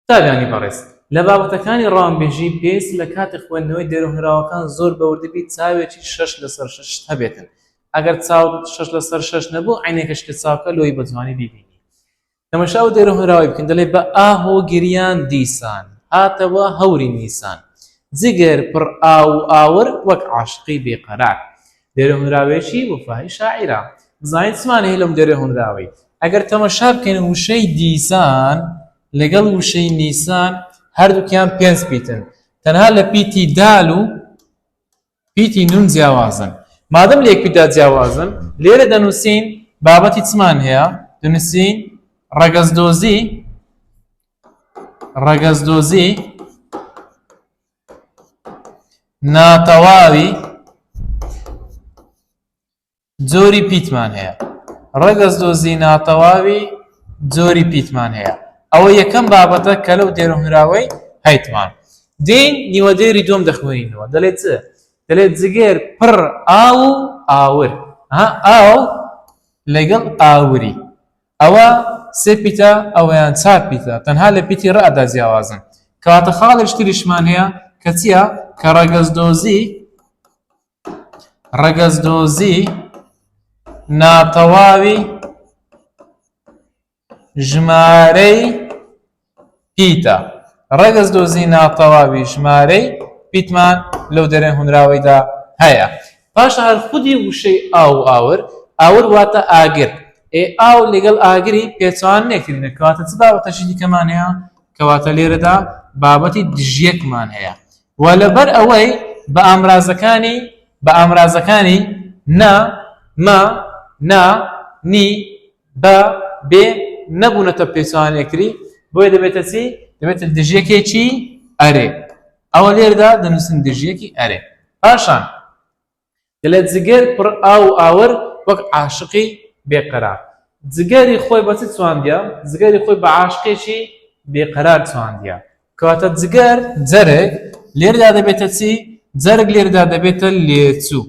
قوتابیانی بەڕێز، لە بابەتەکانی ڕەوانبێژیی پێویستە لە کاتی خوێندنەوەی دێرۆهێنراوەکان زۆر بە وردی بی چاوێکی شەش لە سەر شەشت هەبێتن ئەگەر چاوت شەش لە سەر شەش نەبوو عەینەکەش کە چاکە لۆیی بە جوانی بیبینی تەمەشا ئەو دێرۆهێنراوەی بکەن دەلێ بە ئا هۆ گریان دیسان هاتەوە هەوری نیسان جگەر پڕ ئاو و ئاور وەک عاشقی بێ قەرار دێرێ هۆنراوەیەکی وەفایی شاعیرە. بزانین چ مانای هەیە لەم دێرێ هۆنراوەی. ئەگەر تەمەشا بکەین وشەی دیسان لەگەڵ وشەی نیسان هەردووکیان پێنج پیتن، تەنها لە پیتی دال و پیتی نون جیاوازن. مادەم لە یەک پیتدا جیاوازن، لێرە دەنووسین بابەتی چمان هەیە، دەنووسین ڕەگەزدۆزی ڕەگەزدۆزی ناتەواوی جۆری پیتمان هەیە ڕەگەز دۆزی ناتەواوی جۆری پیتمان هەیە ئەوە یەکەم بابەتە کە لەو دێرەهراوەی هەیتمان دین نیوە دێری دوم دەخوێنینەوە دەلێت چ دەلێت جگەر پڕ ئاو و ئاور ئاو لەگەڵ ئاوری ئەوە سێ پیتە ئەوەیان چار پیتە تەنها لە پیتی ڕئ دا جیاوازن کەواتە خاڵێک تریشمان هەیە کە چیە کە ڕەگەز دۆزی ڕەگەز دۆزی ناتەواوی ژمارەی پیتە، ڕەگەز دۆزی ناتەواوی ژمارەی پیتمان لەو دەرێن هونراوەیدا هەیە. پاشان هەر خودی وشەی ئاو و ئاور، ئاور واتە ئاگر، ئێ ئاو لەگەڵ ئاگری پێچەوانە نێکرێنە کەواتە چ بابەتەکی دیکەمان هەیە؟ کەواتە لێرەدا بابەتی دژیەکمان هەیە و لەبەر ئەوەی بە ئامرازەکانی بە ئامرازەکانی، نە، مە، نا، نی، بە بێ نەبوونەتە پێچەوانەی یەکتری بۆیە دەبێتە چی؟ دەبێتە دژیەکێکی ئەرێ ئەوە لێردا دەنووسن دژیەکی ئەرێ پاشان دەلێت جگەر پڕ ئاو و ئاور وەک عاشقی بێقەرار جگەری خۆی بە چی چواندیە؟ جگەری خۆی بە عاشقێکی بێقەرار چواندیە کەواتە جگەر جەرگ لێردا دەبێتە چی؟ جەرگ لێردا دەبێتە لێچوو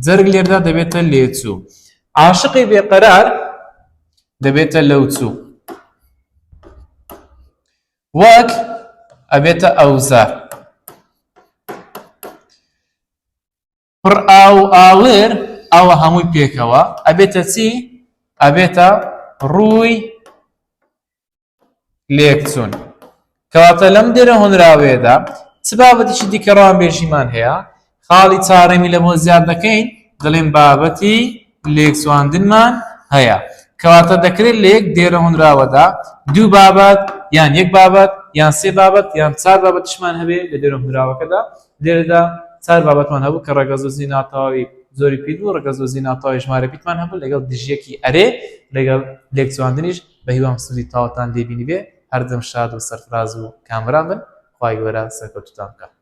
جەرگ لێردا دەبێتە لێچوو. عاشقی بێقەرار دەبێتە لەوچوو. وەک ئەبێتە ئەوزار. پڕ ئاو ئاور ئەوە هەمووی پێکەوە ئەبێتە چی؟ ئەبێتە ڕووی لێکچوون کەواتە لەم دێرە هۆنراوەیەدا چ بابەتیشی دیکە ڕامبێژیمان هەیە خاڵی چارەمی لەمە زیاد دەکەین دەڵێن بابەتی لێکچواندنمان هەیە کەواتە دەکرێت لە یەک دێرە هۆنراوەدا دوو بابەت یان یەک بابەت یان سێ بابەت یان چار بابەتشمان هەبێ لە دێرە هۆنراوەکەدا لێرەدا چار بابەتمان هەبوو کە ڕەگەزۆزی ناتەواوی زۆری پیر بوو ڕەگەزۆزی ناتەواوی ژمارە پیتمان هەبوو لەگەڵ دژیەکی ئەرێ لەگەڵ لێکچواندنیش بەهیوام سودی تاوتان لێبینیبێ هەردەم شاد و سەرفراز و کامران بن خوای گەورە سەرکەوتوتان بکات.